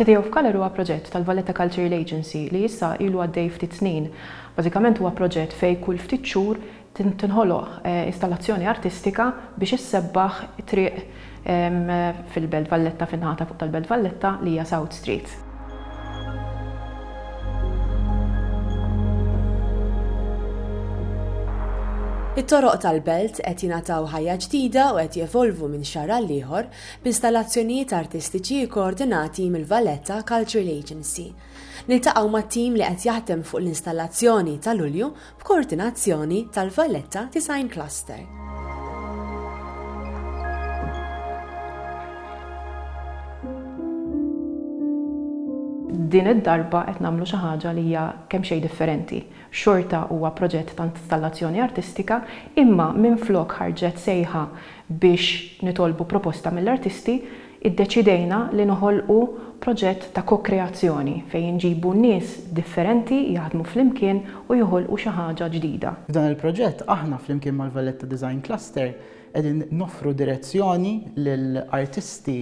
City of Colour huwa proġett tal-Valletta Cultural Agency li issa ilu għaddej ftit snin. Bażikament huwa proġett fejn kull ftit xhur tinħoloq installazzjoni artistika biex issebbaħ triq fil-Belt Valletta, fin-naħa ta' fuq tal-Belt Valletta li hija South Street. It-toroq tal-Belt qed jingħataw ħajja ġdida u qed jevolvu minn xahar għal ieħor b'installazzjonijiet artistiċi kkoordinati mill-Valletta Cultural Agency. Niltaqgħu mat-tim li qed jaħdem fuq l-installazzjoni ta' Lulju b'koordinazzjoni tal-Valletta Design Cluster. Din id-darba qed nagħmlu xi ħaġa li hija kemm xejn differenti. Xorta huwa proġett ta' installazzjoni artistika, imma minflok ħarġet sejħa biex nitolbu proposta mill-artisti, Iddeċidejna li noħolqu proġett ta' ko-kreazzjoni fejn inġibu nies differenti jaħdmu flimkien u joħolqu xi ħaġa ġdida. F'dan il-proġett aħna flimkien mal-Valletta Design Cluster qegħdin noffru direzzjoni lil artisti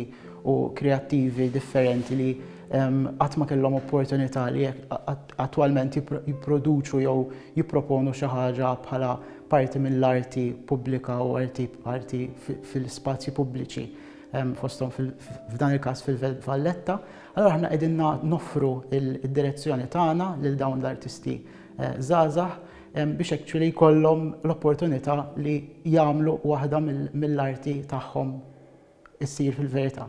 u kreattivi differenti li qatt ma kellhom opportunità li attwalment jipproduċu jew jipproponu xi ħaġa bħala parti mill-arti pubblika u arti fil-spazji pubbliċi. fosthom f'dan il-każ fil-Belt Valletta, allura aħna qegħdin noffru d-direzzjoni tagħna lil dawn l-artisti żgħażagħ biex actually jkollhom l-opportunità li jagħmlu waħda mill-arti tagħhom issir fil-verità.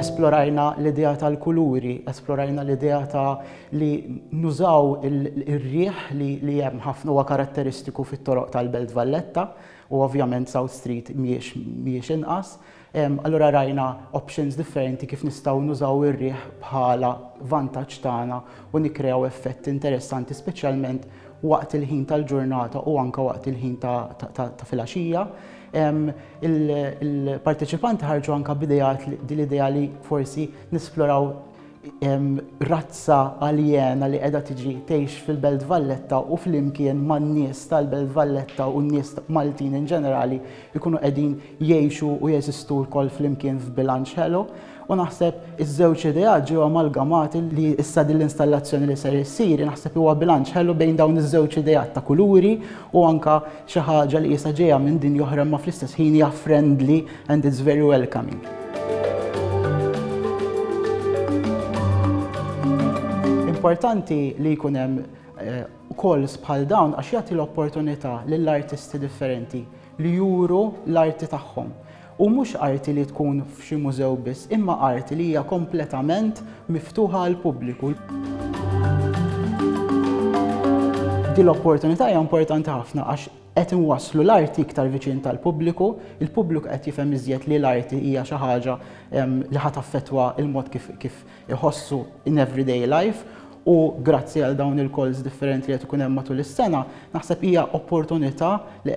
Esplorajna l-idea tal-kuluri, esplorajna l-idea ta' li nużaw ir-riħ li hemm ħafna huwa karatteristiku fit-toroq tal-Belt Valletta u ovvjament South Street mhijiex inqas. Allura rajna options differenti kif nistgħu nużaw ir-riħ bħala vantaġġ tagħna u nikkrew effett interessanti speċjalment waqt il-ħin tal-ġurnata u anke waqt il-ħin ta' filgħaxija. Il-parteċipanti ħarġu anke b'ideat din l-idea li forsi nisploraw razza aljena li qiegħda tiġi tgħix fil-Belt Valletta u flimkien man-nies tal-Belt Valletta u n-nies Maltin in ġenerali jkunu qegħdin jgħixu u jeżistu lkoll flimkien f'bilanċ ħelu. U naħseb iż-żewġ ideat ġew amalgamati li issa din l-installazzjoni li ser issir naħseb huwa bilanċ ħelu bejn dawn iż-żewġ ideat ta' kuluri u anke xi ħaġa li qisha ġejja minn dinja oħra imma fl-istess ħin hija friendly and it's very welcoming. Importanti li jkun hemm calls bħal dawn għax jagħti l-opportunità lill-artisti differenti li juru l-arti tagħhom. U mhux arti li tkun f'xi mużew biss, imma arti li hija kompletament miftuħa għall-pubbliku. Din l-opportunità hija importanti ħafna għax qed inwasslu l-arti iktar viċin tal-pubbliku, il-pubbliku qed jifhem iżjed li l-arti hija xi ħaġa ehm, li ħa taffettwa l-mod kif, kif iħossu in everyday life u grazzi għal dawn il-calls differenti li qed ikun hemm matul is-sena, naħseb hija opportunità li